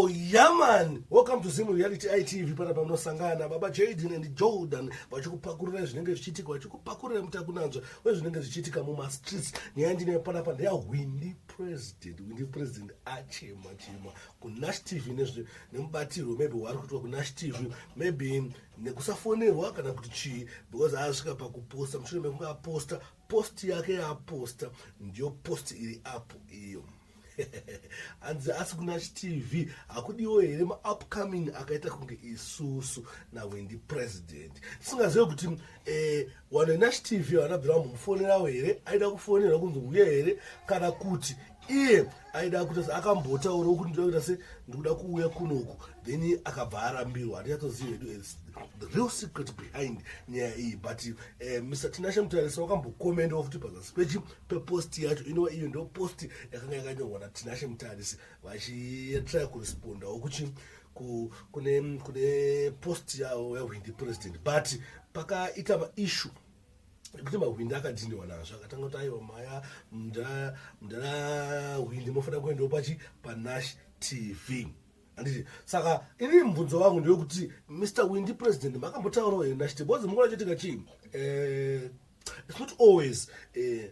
Yaman, welcome to Zim Reality ITV pana pamunosangana baba Jaden and Jordan vachikupakurira zvinenge zvichiitika vachikupakurira mutakunanzva wezvinenge zvichiitika mumastreets nyaya ndine panapa ndeyahwindi president uyu ndipresident achema chema kunash tv nezve nemubatirwo maybe wari kuitwa kunash tv maybe nekusafonerwa kana kuti chii because aasvika pakuposta mushure mekunge aposta post yake yaaposta ndiyo post iri apo iyo hanzi asi kuna chtv hakudiwo here maupcoming akaita kunge isusu nawendi president tisingazive kuti Eh, vanhu venash tv havana bvira vambomufonerawo here aida kufonerwa kunzi uye here kana kuti iye aida kuita se akambotaurawo kuti ndida kuita se ndikuda kuuya kunoku then akabva arambirwa handinyatsoziva hedu the real secret behind nyaya iyi but uh, eh, mr tinashe mutarisa wakambokomendawo futi pazasi pechi peposti yacho inova iyo ndo posti yakanga yakanyorwa natinashe mutarisi vachitry kurespondawo kuchi ku, kune, kune post yawo yahwindi president but pakaita maishu ekuti mahwindi akadhiniwa nazvo akatanga kuti aiwa maya mdara hwindi mofanira kuendawo pachi panash tv anditi saka ini mubvunzo wangu ndewekuti mr windi president makambotaurawo here nash tv bcoz mungona choitika chii eh, it's not always eh,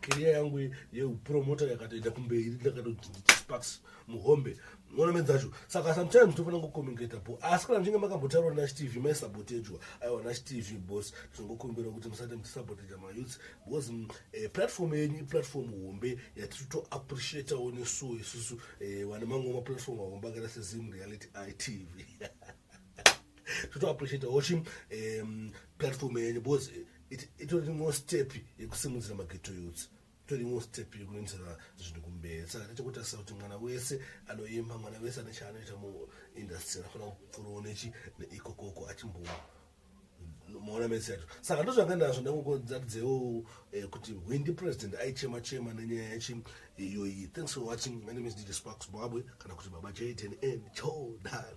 keriya yangu yeupromota yakatoenda kumberi ndakatoti sparks muhombe mona medzacho saka sometimes tofanira kucommunicata bo asi kana muchinge makambotaurwa nachitv maisabotejwa aiwa nachitv bos tinongokumbira kuti musati muchisaboteja mayouths because mm, eh, platform yenyu iplatform hombe yatiri to appreciatawo nesuo isusu eh, vane mangoma platform ahombe akaita sezim reality itv toto appreciate hochi um, platform yenyu because itori imwe step yekusimudzira mageto youths itori imwe step yekuendesera zvinhu kumberi saka tete kutarisa kuti mwana wese anoimba mwana wese ane chaanoita muindustry anofanira kupfurowo nechi neikokoko achimbowa maona mese yacho saka ndozvanga ndazvo ndangokodzakudzewo eh, kuti hwindi president aichema chema nenyaya yachi eh, iyoyi thanks for watching my name is dj spark zimbabwe kana kuti baba jaden and jordan